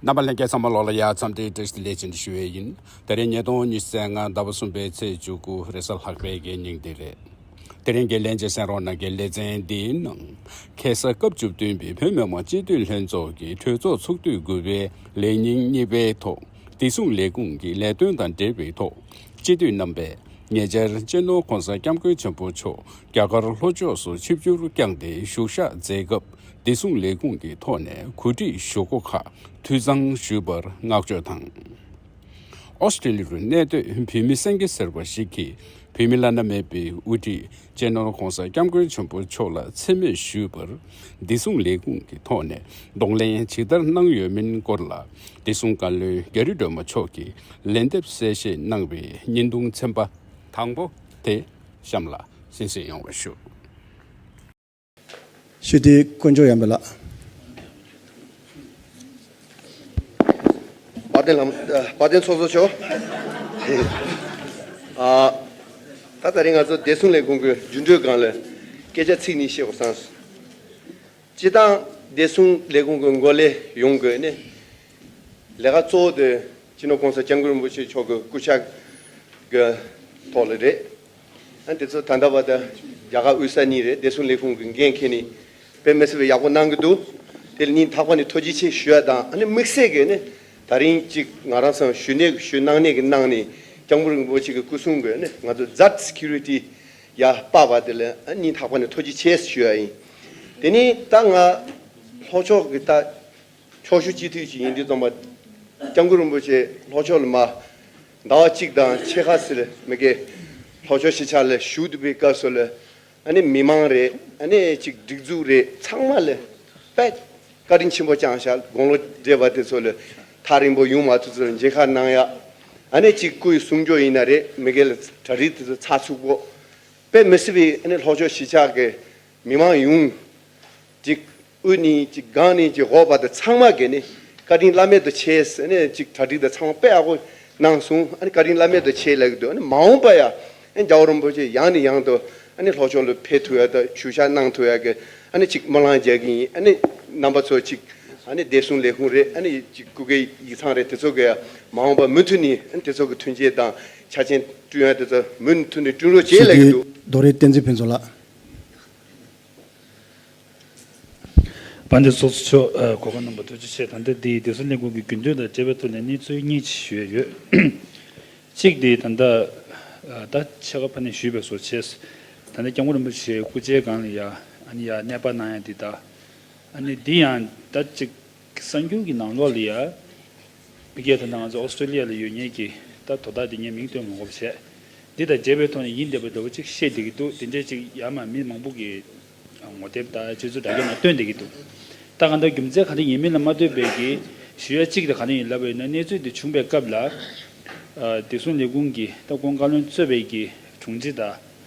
རྣམ་པ་ལྷན་སྐྱེས་ཚང་མ་ལོག་ལ་ཡར་འཚམས་འདྲི་བཀྲིས་བདེ་ལེགས་ཅན་དུ་ཞུ་ཡས་ཡིན་དེ་རིང་ཉིས་སྟོང་ཉི་ཟེར་ལྔ་ཟླ་བ་གསུམ་པའི་ཚེས་བཅུ་དགུ་རེས་གཟའ་ལྷག་པའི་དགེ་ཉིང་དེ་རེད་དེ་རིང་དགེ་ལས་འཇེ་སེང་རོང་ན་དགེ་ལས་ཚན་འདིའི་ནང་ཁེ་ས་སྐབས་བཅུ་བདུན་པའི་བོད་མི་མང་སྤྱི་འཐུས་ལྷན་ཚོགས་ཀྱི་གྲོས་ཚོགས་ཚོགས་དུས་དགུ་པའི་ལས་ཉིན་གཉིས་པའི་ཐོག་བདེ་སྲུང་ལས་ཁུངས་ཀྱི་ལས་དོན་དང་འབྲེལ་བའི་ཐོག་སྤྱི་འཐུས་རྣམ་པས་ཉེ་ཆར་གཅེས་ནོར་ཁོང་ས་སྐྱ་མགོན་ཆེན་པོ་མཆོག་རྒྱ་གར་ལྷོ་ཕྱོགས་སུ་ཆིབས་བསྒྱུར་བསྐྱངས་ཏེ་བཞུགས་ཤག་མཛད་སྐབས་བདེ་སྲུང་ལས་ཁུངས་ཀྱི་ཐོག་ནས་གོ་སྒྲིག་ཞུ་སྒོ་ཁག་འཐུས་ཚང་ཞུས་པར་བསྔགས་བརྗོད་དང། ཨོ་སི་ཀྲི་ལི་རུ་གནས་སྡོད་བུད་མེད་སེང་གེ་ཟེར་བ་ཞིག་གིས་བུད་མེད་བླ་ན་མེད་པའི་དབུ་ཁྲིད་གཅེས་ནོར ྋགོང་ས ྋསྐྱབས་མགོན་ཆེན་པོ་མཆོག་ལ་འཚེ་མེད་ཞུས་པར་བདེ་སྲུང་ལས་ཁུངས་ཀྱི་ཐོག་ནས་གདོང་ལེན་ཇི་ལྟར་གནང་ཡོད་མིན་སྐོར་ལ་བདེ་སྲུང་བཀའ་བློན་རྒྱ་རི་སྒྲོལ་མ་མཆོག་གིས་ལན་འདེབས་གསལ་བཤད་གནང་བའི་བརྙན་ཐུང་ཚན་པ་དང་པོ་དེ་གཤམ་ལ་གསན་བཞེས་ཡོང་བ་ཞུ། ཞི་བདེའི་དཀོན་མཆོག་ཡངས་པའི་ལགས། དཔའ་ལྡན་ལྷ་མོ། དཔའ་ལྡན་ཚོགས་གཙོ་མཆོག། ད་ལྟ་རིང་ང་ཚོ་བདེ་སྲུང་ལས་ཁུངས་ཀྱི་རྒྱུན་སྤྲོད་སྒང་ལ་སྐད་ཆ་ཚིག་གཉིས་བཤད་དགོས་བསམ་སོང། སྤྱི་བཏང་བདེ་སྲུང་ལས་ཁུངས་ཀྱི་འགོ་ལས་ཡོང་དགོས་ནི། ལས་ཀ་གཙོ་བོ་དེ་སྤྱི་ནོར ྋགོང་ས ྋསྐྱབས་མགོན་རིན་པོ་ཆེ་མཆོག་གི་སྐུ་ཕྱྭ་གི་ཐོག་ལ་རེད། དེ་ཚོ་ད་ལྟ་བར་དུ་རྒྱ་གར་དབུས་ས་གཉིས་རེད་བདེ་སྲུང་ལས་ཁུངས་ཀྱི་འགན་ཁྱེད་ནས་དཔེ་མི་སྲིད་པའི་ཡག་པོ་གནང་གི་འདུག་དེ་ལ་སྙིང་ཐག་པ་ནས་ཐུགས་རྗེ་ཆེ་ཞུ་ཡ་དང་ཨ་ནི་དམིགས་བསལ་གྱི་ནི་ད་རིང་གཅིག་ང་རང་ཚང་ཞུ་ནས་ཞུ་གནང་ནས་གི་ནང་ནས་སྐྱང་པོ་རིན་པོ་ཆེ་གི་སྐུ་སྲུང་གི་ནི་ང་ཚོ་ཛར Security ཡ་དཔའ་བ་དེ་ལ་སྙིང་ཐག་པ་ནས་ཐུགས་རྗེ་ཆེ་ཞུ་ཡ་ཡིན་དེ་ནི་ད་ང་ལྷོ་ཕྱོགས་གི་ད་ཕྱོགས་ཞུ་སྤྱི་འཐུས་ཅིག་ཡིན་དུས་ཙང་པ་སྐྱང་པོ་རིན་པོ་ཆེ་ལྷོ་ཕྱོགས་ལ་མ། ཟླ་བ་གཅིག་དང་ཕྱེད་ཁ་སིལ་མི་གེ་ལྷོ་ཕྱོགས་གཞིས་ཆགས་ལ་བཞུགས་འདུག་པའི་སྐབས་སུ་ལ་ནི་མི་མང་རེ་ནི་ཅིག་སྒྲིག་འཛུགས་རེ་ཚང་མ་ལ་པད་དཀར་རིན་ཆེན་པོ་བཅང་བཞག་དགུང་ལོ་བགྲེས་པ་དེ་ཚོ་ལ་ཐག་རིང་པོ་ཡུང་མ་ཐུག་ཚུལ་མཇལ་ཁ་གནང་ཡག་ཨ་ནི་ཅིག་སྐུའི་གསུང་སྐྱོ་ཡིན་ན་རེ་མི་གེ་ལ་གྲ་རིག་དེ་ཚོ་ཚགས་ཚུགས་པོ་པད་མི་སིལ་བའི་ཨ་ནི་ལྷོ་ཕྱོགས་གཞིས་ཆགས་ཀྱི་མི་མང་ཡུང་ཅིག་དབུས་ནས་ཅིག་སྒང་ནས་ཅིག་འོག་བར་དུ་ཚང་མ་གི་ནི་བཀའ་དྲིན་བླ་མེད་དུ་ཆེ་ཟེར་ནས་ཅིག་གྲ་སྒྲིག་དང་ཚང་མ་དཔེ་ཡག་པོ་གནང་སོང་ཨ་ནི་བཀའ་དྲིན་བླ་མེད་དུ་ཆེ་ལེགས་འདུག་མ་འོངས་པ་ཡང་ཨ་ནི་རྒྱ་བོད་རིན་པོ་ཆེ་ཡང་ནས་ཡང་དུ་ཨ་ནི་ལྷོ་ཕྱོགས་ལ་ཕེབས་ཐུབ་ཡག་དང་ཞུ་བཞག་གནང་ཐུབ་ཡག་གི་ཨ་ནི་ཅིག་སྨོན་ལམ་རྒྱག་གི་ཡིན་ཨ་ནི་རྣམ་པ་ཚོ་ཅིག་ཨ་ནི་བདེ་སྲུང་ལས་ཁུངས་རེད་ཨ་ནི་ཅིག་སྐུ་སྒེར་ཡིག་ཚང་རེད་དེ་ཚོ་གི་མ་འོངས་པ་མུ་མཐུད་ནས་ཨ་ནི་དེ་ཚོ་གི་མཐུན་རྐྱེན་དང་ཆ་རྐྱེན་བསྐྲུན་ཡག་དེ་ཚོ་མུ་མཐུད་ནས་བསྐྲུན་རོགས་བྱེད་ཞི་བདེའི་ལེགས་འདུག། རྡོ་རིང་བསྟན་འཛིན་ཕུན་ཚོགས་ལགས། པ་འདི་སོགས་ཚུལ་འཆོས་གོ་བ་རྣམ་པ་ཐོས་རྗེས་ཆེས་དམ་དྲག་འདི་ཡིས་སྡེ་སྲིད་ལས་ཁུངས་ཀྱི་རྒྱུན་ལྡན་དང་འབྲེལ་བའི་ཐོག་ལས་གནས་འཚོལ་སྙེག་ཅི་ཞུས་ཡོད། གཅིག་འདི་ད་ལྟ་ད་ཆ་ཁ་ཕ་ནས་ཞུས་པའི་སོ་ཆས་སུ་ད་ལྟ་སྐྱབས་མགོན་རིན་པོ་ཆེའི་སྐུ་ཆའི་སྒང་ལ་ཡ་ཨ་ནི་ཡ་གནས་པ་ན་ཡང་འདི་ད་ཨ་ནི་འདི་ཡང་ད་ཅིག་གསར་འགྱུར་གྱི་ནང་ལོ་ལི་ཡཱ་བྷི་གྷལ་དང་ནང་ང་ཚོ་ཨོ་སི་ཀྲོ་ལི་ཡཱ་ལ་ཡོད་ཉེས་ཀྱི་ལྟར་དོ་བདག་འདི་ངས་མིང་བཏོན་མ་གོ་བ་བྱས། འདི་དང་བརྗེ་བའི་ཐོག་ནས་ཡིན་བསྡད་པའི་རྡོ་བོ་གཅིག་བཤད་བསྡད་ཀྱི་འདུག་དེ་འདྲའི་ཅིག་ཡར་མར་མི་མང་པོ་གི་ངོ་དེབ་དང་སྤྱོད་ཚུལ་དྲ་རྒྱ་ནང་བཏོན་བསྡད་ཀྱི་འདུག་ད་གང་ལྟར་རྒྱུ་མཚན་གང་དྲན་ཡིན་མིན་ལ་མ་ལྟོས་པའི་གི་ཞུ་ཡ་གཅིག་དང་གང་དྲན་ཡིན་ལབ་པ་ཡིན་ན་གནས་ཚུལ་འདི་བྱུང་པའི་སྐབས་ལ་བདེ་སྲུང་ལས་ཁུངས་ཀྱི་སྟ་གོན་བཀའ་བློན་གཙོས་པའི་གི་དྲུང་ཆེ་དང།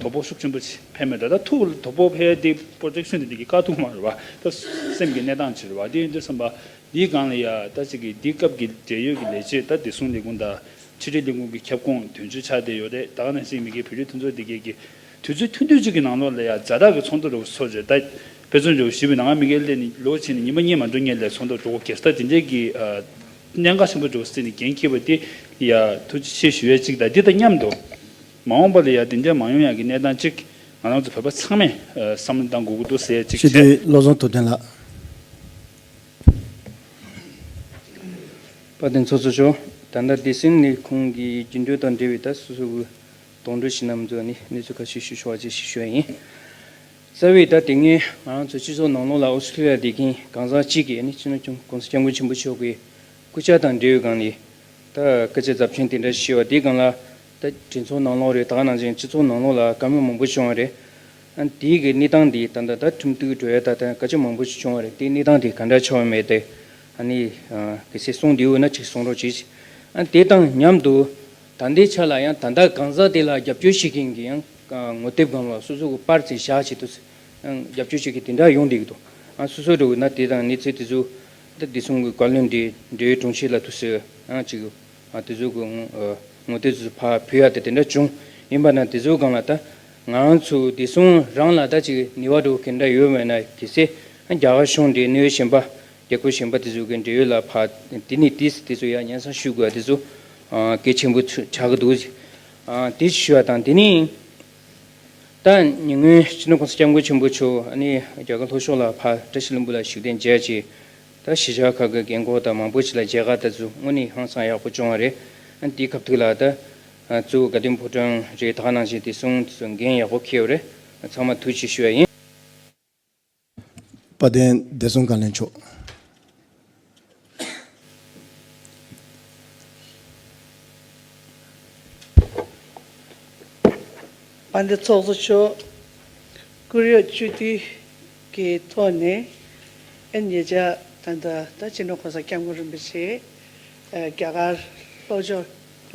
དོ་པོ་ཤུགས་ཆེན་པོ་བྱེད་ཕན་མེད་དོ། ད་ཐུག་དོ་པོ་ཕལ་འདི་པོ་རིགས་སུན་ཏེ་འདི་གི་དཀའ་ཐུག་མ་རུ་བ། ད་སེམས་ཀྱི་གནས་སྟངས་ཇི་རུ་བ། དེ་ཡིན་དུས་བསམ་པ། འདིའི་སྒང་ལ་ཡ། ད་ཅིག་གིས་འདི་སྐབས་ཀྱི་འབྲེལ་ཡོད་ཀྱི་ལས་བྱེད་ད་བདེ་སྲུང་ལས་ཁུངས་དང། ཕྱི་དྲིལ་ལས་ཁུངས་ཀྱི་ཁྱབ་ཁོངས་དོན་གཅོད་ཆགས་བསྡད་ཡོད་རེད་ད་ག་ནས་ཅིག་མི་དགེ་བོད་རིགས་མཐུན་ཚོགས་འདི་གའི་གི། དུས་ཚོད་ཐུང་དུས་གཅིག་གི་ནང་ལོགས་ལ་ཡ་བཟའ་བདག་གི་ཚོགས་འདུ་རུ་ཚོགས་བྱས་ད། དཔེ་མཚོན་འཇོག་གཞི་བའི་ནང་ང་མི་དགེ་ལས་ནི་ལོ་ཕྱེད་ནས་ཉིན་མ་གཉིས་མ་འགྲོ་ངེས་ལས་ཚོགས་འདུ་འགྲོ་གེར་ད་དེ་འདྲའི་གི། གནད་འགག་ཆེན་པོ་འཇོག་སྲིད་ནས་འགན་འཁྱེར་བ་དེ། ཡ། ཐུགས་རྗེ་ཆེ་ཞུ་ཡ་ཅིག་ད་འདི་ད་མཉམ་དུ། མ་འོངས་པ་ལ་ཡང་དེ་འདྲའི་མ་ཡོང་ཡག་གི་གནས་སྟངས་གཅིག་ང་རང་ཚོ་བོད་པ་ཚང་མས་བསམ་བློ་གཏང་དགོས་ཀྱི་འདུག་ཟེར་ཡ་གཅིག་ཞི་བྱས། བདེའི་བློ་བཟང་ཐུབ་བསྟན་ལགས། བཀའ་དྲིན་ཚོགས་གསོ་ཞུ། ད་ལྟ་བདེ་སྲུང་ལས་ཁུངས་ཀྱི་རྒྱུན་སྤྲོད་དང་འབྲེལ་བའི་ད་སོ་སོ་གི་གདོང་དྲོད་ཞི་རྣམས་ཚོ་ནས་གནས་ཚུལ་ཁ་ཤས་ཞུ་ཆོག་ཅེས་ཞུ་ཞོ་ཡིན། རྩ་བའི་ད་དེ་སྔའི་ང་རང་ཚོའི་སྤྱི་ཚོགས་ནང་ལོགས་ལ་ཨོ་སི་ཁྲི་ལི་ཡ་སྡེ་དགེའི་གང་ཟག་གཅིག་གིས་ནི་སྤྱི་ནོར་ཁྱུང་ཀོང་ས་སྐྱབས་མགོན་ཆེན་པོ་མཆོག་གི་སྐུ་ཕྱྭ་དང་འབྲེལ་ཡོད་སྒང་ལས་ད་སྐད་ཆ་རྫབ་ཆེན་དེ་འདྲ་ཞུས་བ་དེ་སྒང་ལ་ད་དྲིན་ཚོགས་ནང་ལོགས་རེད་དག་ནང་བཞིན་སྤྱི་ཚོགས་ནང་ལོགས་ལ་དཀའ་མོས་མང་པོ་བྱུང་བ་རེད། དེའི་གི་གནས་སྟངས་འདི་ད་ད་ད་ཁྲིམས་གཏུག་གི་གྲོས་ཡ་ད་དཀའ་སྤྱད་མང་པོ་ཞིག་བྱུང་བ་རེད་དེའི་གནས་སྟངས་འདི་ག་འདྲ་ཆགས་ཡོད་མེད་དེ་ཨ་ནི་གི་སེ་གསུངས་འདིའི་འོད་ན་ཅིག་གསུངས་རོགས་གྱིས། དེ་དང་མཉམ་དུ་ད་ལྟའི་ཆ་ལ་ཡང་ད་ད་གང་ཟག་དེ་ལ་རྒྱབ་སྐྱོར་བྱེད་མཁན་གི་ཡང་ངོ་དེབ་སྒམ་ལ་སོ་སོ་གི་པར་ཚེ་བཞག་བྱེད་དུ་ཡང་རྒྱབ་སྐྱོར་བྱེད་མཁན་དེ་འདྲ་ཡོང་བསྡད་གི་འདུག་སོ་སོ་དྲུག་ན་དེ་དང་གནས་ཚུལ་དེ་ཚོ་ད་དེ་གསུངས་གི་བཀའ་བློན་འདི་འདྲའི་དྲུང་ཆེ་ལ་དུ་སུ་ཡང་ཅིག་ཨ་དེ་ཚོ་གོ། ངོ་དེ་ཚོ་ཕ་བུ་ཡ་དེ་དེ་འདྲ་བྱུང་ཡིན་པ་ན་དེ་ཚོ་གང་ལ་ལྟ། ང་རང་ཚོ་བདེ་སྲུང་རང་ལ་ལྟ་ཅིག་ནི་བ་དྲོ་གི་འདྲ་ཡོད་མེད་ན་གི་སེ། རྒྱ་གར་གཞུང་འདྲེ་གནོད་བཞིན་པ་རྒྱ་ཁུ་བཞིན་པ་དེ་ཚོ་གི་འབྲེལ་ཡོད་ལ་ཕ་དེ་ནི་དེ་དེ་ཚོ་ཡ་ཉན་སང་ཞུ་དགོས་ཡ་དེ་ཚོ་གེ་ཆེན་པོ་ཆག་གི་འདུག་ཟེ། དེ་ཞུ་བ་དང་དེ་ནི་ད་ཉེ་སྔོན་སྤྱི་ནོར་ཁང་སི་སྐྱབས་མགོན་ཆེན་པོ་མཆོག་ནི་རྒྱ་གར་ལྷོ་ཕྱོགས་ལ་ཕ་བཀྲ་ཤིས་ལྷུན་པོ་ལ་ཞུགས་གདན་མཇལ་ཆེད། ད་གཞིས་ཆགས་ཁག་གི་རྒན་གོག་དག་མང་པོ་ཞིག་ལ་མཇལ་ཁ་ད་བཟོས་དངོས་གནས་ཧང་སང་ཡག་པོ་བྱུང་བ་རེད། དེའི་ཁབ་ཐུག་ལ་ད་བཙུགས་དགའ་ལྡན་ཕོ་བྲང་རེ་དག་ནང་བཞིན་དེ་གསུང་དེ་ཚོ་འགན་ཡག་པོ་འཁེལ་བ་རེད། ཚང་མ་ཐུགས་ཆེ་ཞུ་བ་ཡིན། དཔལ་ལྡན་བདེ་སྲུང་བཀའ་བློན་མཆོག། དཔལ་ལྡན་ཚོགས་གཙོ་མཆོག། ཀུན་ཡོད་སྤྱི་འཐུས། ཀྱི་ཐོག་ནས་ཨེན་ཉེ་ཅག་དང་ད་ལྟ་ཕྱི་ནང་གང་སར་སྐྱབས་མགོན་རིན་པོ་ཆེས་རྒྱ་གར་ལྷོ་ཕྱོགས་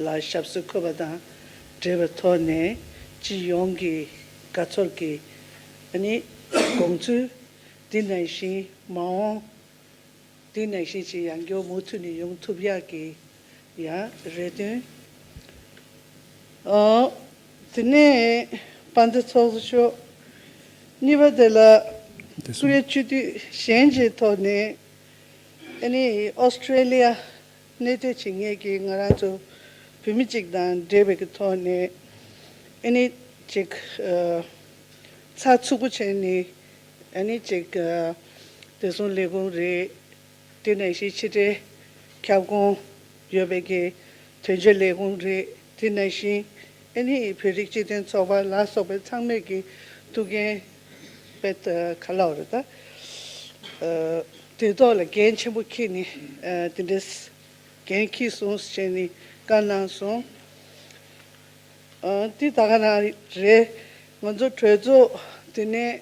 ལ་ཞབས་སུ་འཁོད་པ་དང་འབྲེལ་བའི་ཐོག་ནས་སྤྱི་ཡོངས་ཀྱི་དགའ་ཚོར་གྱི་དགོངས་ཚུལ་འདི་ནང་བཞིན་མ་འོངས་དེ་ནང་བཞིན་ཅི་ཡང་མགྱོགས་མུ་མཐུད་ནས་ཡོང་ཐུབ་ཡག་གི། ཡ་རེད་དོན། དེ་ནས་པ་འདི་ཚོགས་སུ་ཆོག། གཉིས་པ་དེ་ལ་ཀུ་རེ་སྤྱི་འཐུས་གཞན་གྱི་ཐོག་ནས་ཨ་ནི Australia གནས་སྡོད་བྱེད་མཁན་གྱི་ང་རང་ཚོ་བོད་མི་གཅིག་དང་འབྲེལ་བའི་གི་ཐོག་ནས་ཨ་ནི་ཅིག་ཚགས་ཚུད་པོ་བྱས་ནས་ཨ་ནི་ཅིག་དེ་སོང་ལས་དགོངས་རེད། ལྟེ་གནས་གཞིས་ཕྱི་དྲིལ་ཁྱབ་ཁོངས་ཡོད་པའི་དགེ་ཐོན་ཆེད་ལས་ཁུངས་རེད། དེ་ནང་བཞིན་ཨན་ཧི་ཡི་བོད་རིགས་སྤྱི་མཐུན་ཚོགས་པ་ལ་སོགས་པའི་ཚང་མས་ཀྱི་ཐུགས་འགན་དཔལ་ཏི་ཁ་ལག་རེད་ད། དེ་དག་ལ་འགན་ཆེན་པོ་ཁྱེད་ནི་དེ་འདྲའི་འགན་ཁྱིས་སོང་ཞེས་ནི་བཀའ་གནང་སོང། འདི་ད་ག་ནང་རེད་ང་ཚོ་གྲོས་ཚོགས་དེ་ནས་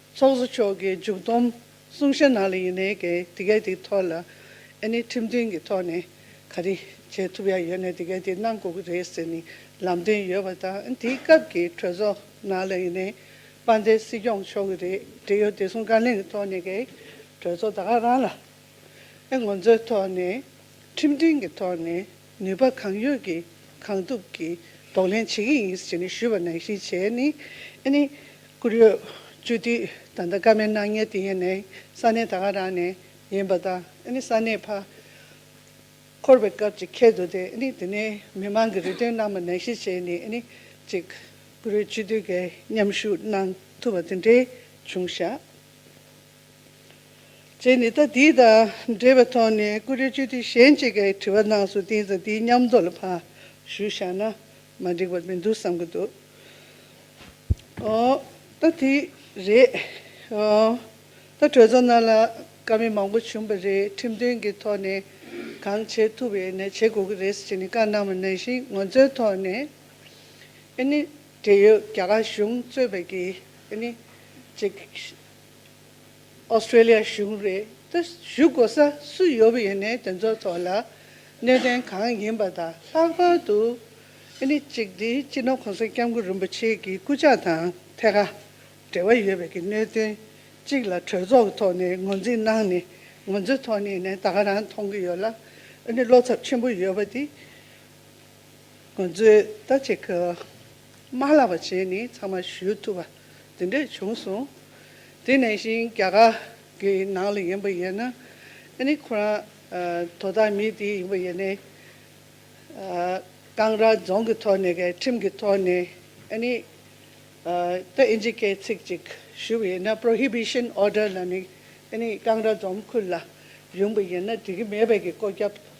ཚོགས་གཙོ་མཆོག་གིས་མཇུག་བསྡོམས་གསུང་བཤད་ནང་ལ་ཡིན་ནའི་གན་དེ་གའི་དེའི་ཐོག་ལ་ཨ་ནི་ཁྲིམས་མཐུན་གྱི་ཐོག་ནས་ག་རེ་བྱེད་ཐུབ་ཡ་ཡོད་ནའི་དེ་གའི་དེ་གནང་དགོས་ཀྱི་རེད་ཟེར་ནས་ལམ་སྟོན་ཡོད་པ་དང་ཨ་ནི་དེའི་སྐབས་ཀྱི་གྲོས་ཚོགས་ནང་ལ་ཡིན་ནའི་དཔའ་མཛད་སྲིད་སྐྱོང་མཆོག་གི་རེད་འབྲེལ་ཡོད་བདེ་སྲུང་བཀའ་ལན་གྱི་ཐོག་ནས་གའི་གྲོས་ཚོགས་ད་ག་རང་ལ་ཨ་ངོ་མཚོའི་ཐོག་ནས་ཁྲིམས་མཐུན་གྱི་ཐོག་ནས། ནུས་པ་གང་ཡོད་ཀྱིས་གང་ཐུབ་ཀྱིས་གདོང་ལེན་བྱེད་ཀྱི་ཡིན་ཞེས་ནས་ཞུས་པར་ནང་བཞིན་བྱས་ནས་ཨ་ནི་བསྐུར་ཡོད། བཅུ་དུས་ད་ལྟ་སྐར་མའི་སྣང་བརྙན་དེ་ཡན་ནའི་ས་གནས་ད་ག་རང་ནས་ཡིན་པ་དང་ཨ་ནི་ས་གནས་ཕར་འཁོར་བའི་སྐབས་ཅིག་ཁེལ་འདུག་སྟེ་ཨ་ནི་དེ་ནས་མི་མང་གི་རེ་འདུན་རྣམས་ལ་ནང་བཞིན་བྱས་ནས་ཨ་ནི་ཅིག་བསྐུར་ཡོད་བཅུ་དུས་འགའི་མཉམ་ཞུགས་གནང་ཐུབ་པ་དེ་འདྲའི་བྱུང་བཞག། ཅེས་ནི་ད་འདི་དང་འབྲེལ་བའི་ཐོག་ནས་ཀུ་རེ་བཅོལ་དུས་གཞན་གཅིག་གིས་དྲི་བ་གནང་སོང་དེ་ཙམ་དེའི་ཉམས་རྟོགས་ལ་ཕ་ཞུ་བཞག་ན་མ་འགྲིག་པ་མི་འདུག་བསམ་གྱི་འདུག་ད་དེ་རེད། ད་གྲོས་ཚོགས་ནང་ལ་དཀའ་མི་མང་པོ་བྱུང་བ་རེད་ཁྲིམས་མཐུན་གྱི་ཐོག་ནས་གང་བྱེད་ཐུབ་པའི་ནས་བྱེད་དགོས་ཀྱི་རེད་ཅེས་ནི་བཀའ་གནང་བ་ནང་བཞིན་ངོ་མཚོན་ཐོག་ནས་ཨ་ནི་འབྲེལ་ཡོད་རྒྱ་གར་གཞུང་གཙོས་པ་ཀྱིས་ཨ་ནི་ཅིག Australia གཞུང་རེད་ད་ཞུ་དགོ་ས་སུ་ཡོད་པ་ཡིན་ནའི་དེ་ཚོ་ཐོག་ལ་གནད་དོན་གང་ཡིན་པ་དང་ལྷག་པར་དུ་ཨི་ནི་གཅིག་དེ་སྤྱི་ནོར་གོང་ས་སྐྱབས་མགོན་རིན་པོ་ཆེ་གི་སྐུ་ཕྱག་དང་ཐད་ཀར་འབྲེལ་བ་ཡོད་པའི་གི་གནད་དོན་གཅིག་ལ་གྲོས་ཚོགས་ཀྱི་ཐོག་ནས་ངོས་འཛིན་གནང་ནས་ང་ཚོའི་ཐོག་ནས་ནས་ད་ག་རང་མཐོང་གི་ཡོད་ལ་ཨི་ནི་བློ་འཚབ་ཆེན་པོ་ཡོད་པ་དེ། ང་ཚོས་ད་ཅིག་གི་མ་ལགས་པ་བྱས་ནས་ཚང་མ་ཞུས་ཐུབ་པ་དེ་འདྲས་བྱུང་སོང། དེ་ནས་བཞིན་རྒྱ་གར་གི་ནང་ལ་ཡིན་པ་ཡིན་ན་ཨ་ནི་ཁོ་རང་དོ་བདག་མི་དེ་ཡིན་པ་ཡིན་ནས། ཀང་ར་རྫོང་གི་ཐོག་ནས་གི་ཁྲིམས་གི་ཐོག་ནས་ཨ་ནི་ད་ཨིན་ཇི་སྐད་ཚིག་ཅིག་ཞུས་པ་ཡིན་ན Prohibition Order ལ་ནི་ཨ་ནི་ཀང་ར་རྫོང་ཁུལ་ལ་ཡོང་པ་ཡིན་ན་འགྲིག་གི་མེད་པའི་གི་བཀོད་ཁྱབ།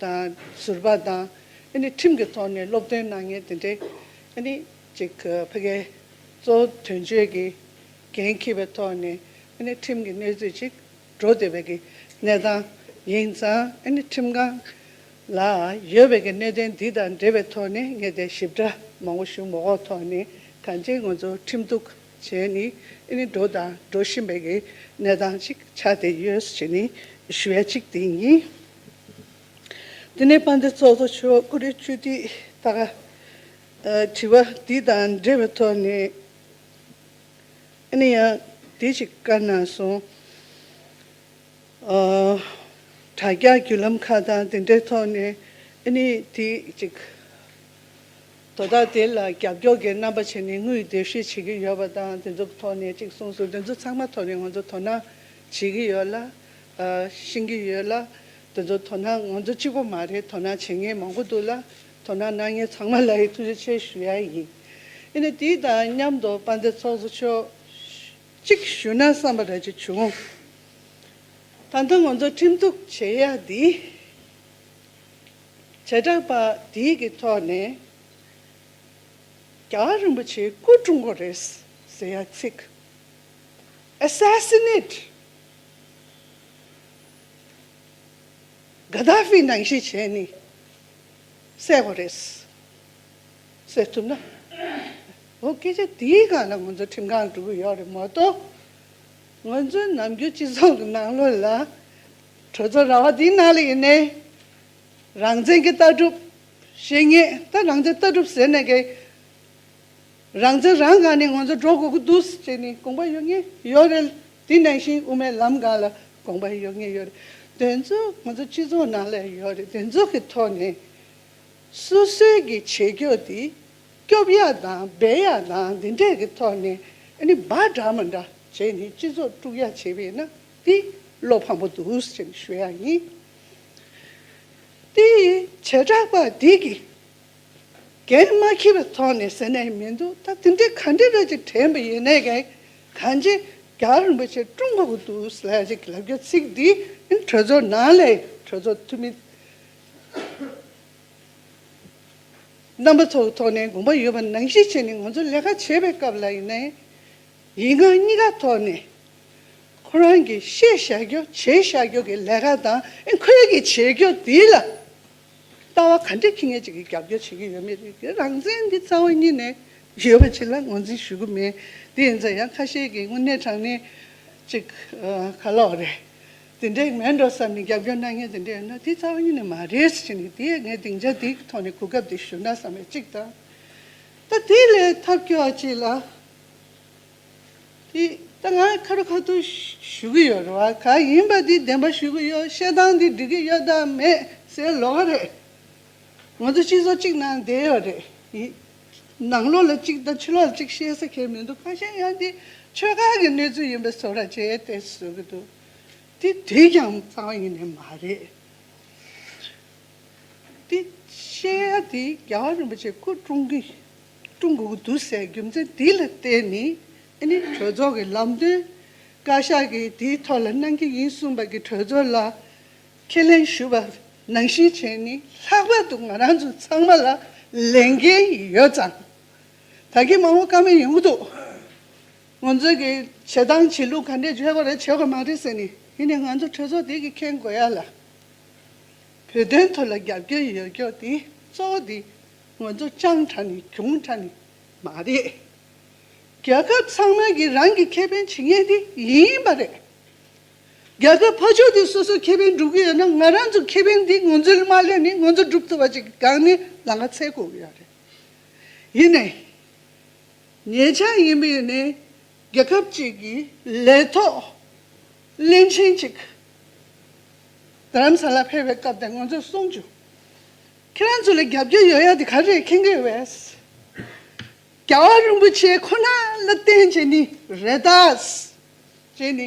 དང། ཟུར་པ་དང། ཁྲིམས་ཀྱི་ཐོག་ནས་སློབ་སྟོན་གནང་མཁན་དེ་འདྲའི། ཅིག་ཕ་གི་གཙོ་བོ་དོན་གཅོད་ཀྱི་འགན་འཁྱེར་བའི་ཐོག་ནས། ཁྲིམས་ཀྱི་གནས་ཚུལ་ཅིག་བགྲོ་འདོད་པའི་གནས་སྟངས་ཡིན་ཙང། ཁྲིམས་ཁང་ལ་ཡོད་པའི་གནད་དོན་འདི་དང་འབྲེལ་བའི་ཐོག་ནས་ངས་དེ་ཞིབ་ཕྲ་མང་བོ་ཞུ་མ་འོངས་ཐོག་ནས་གང་ཅིའི་ང་ཚོ་ཁྲིམས་གཏུག་བྱས་ནས་འགྲོ་དང་འགྲོ་བཞིན་པའི་གནས་སྟངས་ཅིག་ཆགས་བསྡད་ཡོད་ཞེས་ཞུ་ཡ་གཅིག་དེ་ཡིན། དེ་ནས་པཎ་ཏི་ཚོགས་གཙོ་ཆོས་དབང་ཀུ་རེ་ཆོས་འདི་དག་དྲི་བ་འདི་དང་འབྲེལ་བའི་ཐོག་ནས་ཡང་དེ་ཞིག་བཀའ་གནང་སོང། དྲ་རྒྱ་བརྒྱུད་ལམ་ཁག་དང་དེ་འདྲའི་ཐོག་ནས་དེ་ཅིག་དོ་བདག་དེ་ལ་རྒྱབ་སྐྱོར་གྱི་རྣམ་པ་བྱས་ནས་དངུལ་བསྡུ་བཤེར་བྱེད་ཀྱི་ཡོད་པ་དང་དེ་ཚོ་ཐོག་ནས་ཅིག་གསུངས་སོང་དེ་ཚོ་ཚང་མ་ཐོག་ནས་ང་ཚོ་དོ་སྣང་བྱེད་ཀྱི་ཡོད་ལ། བཞིན་གྱི་ཡོད་ལ། དེ་ཚོར་དོ་སྣང་ང་ཚོ་གཅིག་པོ་མ་རེད་དོ་སྣང་བྱེད་མཁན་མང་པོ་འདུག་ལ། དོ་སྣང་གནང་མཁན་ཚང་མ་ལ་ཡི་ཐུགས་རྗེ་ཆེ་ཞུ་ཡ་ཡིན། ཡིན་ནའི་དེའི་དང་མཉམ་དུ་དཔའ་མཛད་ཚོགས་གཙོ་མཆོག་གཅིག་ཞུ་ན་བསམ་པ་རེ་གཅིག་བྱུང། ད་ལྟ་ང་ཚོ་ཁྲིམས་གཏུགས་བྱེད་ཡ་འདི། བྱེ་བྲག་པ་འདི་གི་ཐོག་ནས། རྒྱ་གར་རིན་པོ་ཆེའི་སྐུ་ཀྲུང་གོ་རེད་ཟེར་ཡ་ཚིག། Assassinate། གྷ་དྷ་ཧྥི་ནང་བཞིན་བྱས་ནས་གསལ་བོ་རེད། གསལ་ཐུབ་ན། འོ་སྐད་ཆ་དེའི་སྒང་ལ་ང་ཚོ་ཁྲིམས་ཁང་གྲུབ་ཀྱི་ཡོད་རེད་མ་གཏོགས། ང་ཚོའི་ནམ་རྒྱུན་སྤྱི་ཚོགས་ཀྱི་ནང་ལོགས་ལ། གྲོས་ཚོགས་ར་བ་དེའི་ནང་ལ་ཡིན་ནའི། རང་བཙན་གྱི་ལྟ་གྲུབ། བཤེས་གཉེན་ད་རང་བཙན་ལྟ་གྲུབ་ཟེར་ནས་ཀྱི། རང་ཚོད་རང་དགའ་ནས་ང་ཚོ་འགྲོ་དགོས་ཀྱི་འདུག་ཅེས་ནས་དགོངས་པ་ཡོད་ངེས་ཡོད་རེད། དེ་ནང་བཞིན་དབུ་མའི་ལམ་སྒང་ལ་དགོངས་པ་ཡོད་ངེས་ཡོད་རེད། དོན་གཙོ་ང་ཚོ་སྤྱི་ཚོགས་ནང་ལ་ཡོད་རེད་དོན་གཙོ་གི་ཐོག་ནས། སོ་སོའི་གི་བྱེད་སྐྱོ་དེ་སྐྱོབ་ཡ་དང་འབད་ཡ་དང་འདི་འདྲས་གི་ཐོག་ནས་ཨ་ནི་འབའ་འདྲ་མ་འདྲ་བྱས་ནས་སྤྱི་ཚོགས་དཀྲུག་ཡ་བྱེད་པས་ན་དེ་བློ་ཕམ་པོ་འདུག་ཅེས་ནས་ཞུ་ཡ་ཡིན། དེ་བྱེ་བྲག་པ་དེ་གི། གན་མ་ཁེལ་བའི་ཐོག་ནས་ཟེར་ནས་མི་འདུག་ད་དེ་འདྲའི་ག་འདྲའི་རོལ་ཅིག་དྲན་པ་ཡིན་ནའི་གན་གང་ཅི་རྒྱ་རིན་པོ་ཆེ་ཀྲུང་གོ་གི་དུས་ལས་རིགས་ལབ་རྒྱུ་ཚིག་འདི་གྲོས་ཚོགས་ནང་ལས་གྲོས་ཚོགས་འཐུས་མི་རྣམ་པ་ཚོ་གི་ཐོག་ནས་དགོངས་པ་ཡོད་པ་ནང་བཞིན་བྱས་ནས་ང་ཚོ་ལས་ཀ་བྱེད་པའི་སྐབས་ལ་ཡིན་ནའི་ཡིན་ང་གཉིས་ཀ་ཐོག་ནས་ཁོ་རང་གི་བཤད་བཞག་རྒྱུ་བྱེད་བཞག་རྒྱུ་གི་ལས་ཀ་དང་ཁོའི་གི་བྱེད་རྒྱུ་དེ་ལ། ལྟ་བ་ག་འདྲས་ཁྱི་ངན་ཅིག་གིས་རྒྱབ་སྐྱོར་བྱེད་ཀྱི་ཡོད་མེད་རིགས་ཀྱི་རང་བཙན་འདི་རྩ་བ་ཉིད་ནས་ཡོད་པ་ཅིག་ལ་ངོས་འཛིན་ཞུ་གི་མེད། དེ་ཡིན་ཙང་ཡང་ཁ་ཤས་ཀྱིས་དངོས་གནས་དྲང་གནས་ཅིག་ག་ལོག་རེད། དེ་འདྲའི་ངན་འགྲོ་བསམ་ནས་རྒྱབ་སྐྱོར་གནང་མཁན་དེ་འདྲ་ཡོད་ན་དེ་རྩ་བ་ཉིད་ནས་མ་རེད་ཟེར་གྱི་དེ་ངས་སྡིངས་ཆ་འདིའི་ཐོག་ནས་གོ་སྐབས་འདི་ཞུ་ན་བསམ་པའི་གཅིག་དང། ད་དེ་ལས་ཐབས་སྐྱོ་བ་ཅིག་ལ། ད་ང་ཁ་རུ་ཁ་ཐུག་ཞུ་གི་ཡོད་རེད་བ་ག་ཡིན་པ་འདི་བདེན་པ་ཞུ་གི་ཡོད་བཤད་སྟངས་འདི་འགྲིག་གི་ཡོད་དམ་མེད་སའི་ལོག་རེད། ང་ཚོ་སྤྱི་ཚོགས་གཅིག་ནང་བསྡད་ཡོད་རེད་ཡིན། ནང་ལོག་ལ་གཅིག་དང་ཕྱི་ལོག་ལ་གཅིག་བཤད་ས་ཁེལ་མི་འདུག་ཁ་ཤས་ཡང་འདི་ཆོལ་ཁ་གི་གནས་ཚུལ་ཡིན་པའི་བཟོ་ར་བྱས་ཏེ་བཟོ་གི་འདུག་འདི་དུས་ཀྱང་གཙང་བ་ཡིན་ནི་མ་རེད། འདི་བཤད་ཡ་འདི་རྒྱལ་བ་རིན་པོ་ཆེ་སྐུ་བཀྲོངས་གི་ཀྲུང་གོ་གི་དུས་བསལ་རྒྱུ་མཚན་དེ་ལ་བརྟེན་ནས་ནི་གྲོས་ཚོགས་ཀྱི་ལམ་སྟོན་བཀའ་ཤག་གིས་དེའི་ཐོག་ལ་གནང་གི་ཡིན་གསུངས་པ་གིས་གྲོས་ཚོགས་ལ་ཁས་ལེན་ཞུ་བར་ནང་བཞིན་བྱས་ནས་ལྷག་པར་དུ་ང་རང་ཚོ་ཚང་མ་ལ་ལས་འགན་ཡོད་ཙང་ད་གིན་མང་བོ་དཀའ་མོ་ཡོང་གི་འདུག་ང་ཚོས་ཀྱི་བྱེད་སྟངས་བྱེད་ལུགས་ག་འདྲས་བྱས་པ་རེ་བྱས་པ་མ་རེད་ཟེར་ནས་ཡིན་ནས་ང་ཚོ་གྲོས་ཚོགས་དེ་གིས་མཁྱེན་དགོས་ཡ་ལ་བོད་དོན་ཐོག་ལ་རྒྱབ་སྐྱོར་ཡོད་སྐྱོར་དེ་གཙོ་བོ་དེ། ངོ་ཚོ་སྤྱང་དྲགས་ནས་གྱོང་དྲགས་ནས་མ་རེད། རྒྱལ་ཁབ་ཚང་མ་གིས་རང་གི་ཁེ་ཕན་བྱེད་མཁན་དེ་ཡིན་པ་རེད། རྒྱལ་ཁབ་ཕ་ཕྱོགས་དེ་སོ་སོའི་ཁེ་ཕན་སྒྲུབ་གི་ཡོད་ན་ང་རང་ཚོའི་ཁེ་ཕན་དེ་ངོ་ཚོས་མ་གླས་ནས་ངོ་ཚོ་སྒྲུབ་ཐུབ་པ་ཞིག་སྒང་ནས་ལ་ང་ཚད་གོ་གི་ཡ་རེད། ཡིན་ནའི་ཉེ་ཆར་ཡིན་པའི་ནས་རྒྱལ་ཁབ་ཅིག་གི་ལས་ཐོག་གླིང་ཆེན་ཅིག་རྡ་རམ་ས་ལ་ཕེབས་པའི་སྐབས་དེ་ང་ཚོས་གསུངས་བྱུང། ཁྱེད་རང་ཚོ་ལ་རྒྱབ་སྐྱོར་ཡོད་ཡག་དེ་ག་རེད་ཁེང་གི་རེད། རྒྱལ་བ་རིན་པོ་ཆེ་ཁོ་ན་ལ་བརྟེན་བྱས་ནི་རེད་ད། བྱས་ནི།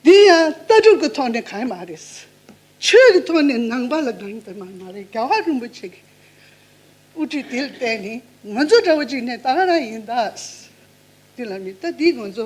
འདི་ཡང་ལྟ་གྲུབ་ཀྱི་ཐོག་ནས་གང་ཡང་མ་རེད། ཆོས་ཀྱི་ཐོག་ནས་ནང་པ་ལ་གང་ཡང་དེ་མ་མ་རེད་རྒྱལ་བ་རིན་པོ་ཆེ་གི་དབུ་ཁྲིད་དེ་ལ་བརྟེན་ནི་ང་ཚོ་འདྲ་བ་ཅིག་ནས་ད་ག་རང་ཡིན་ད། དེ་ལ་མི་ལྟ་དེ་ང་ཚོ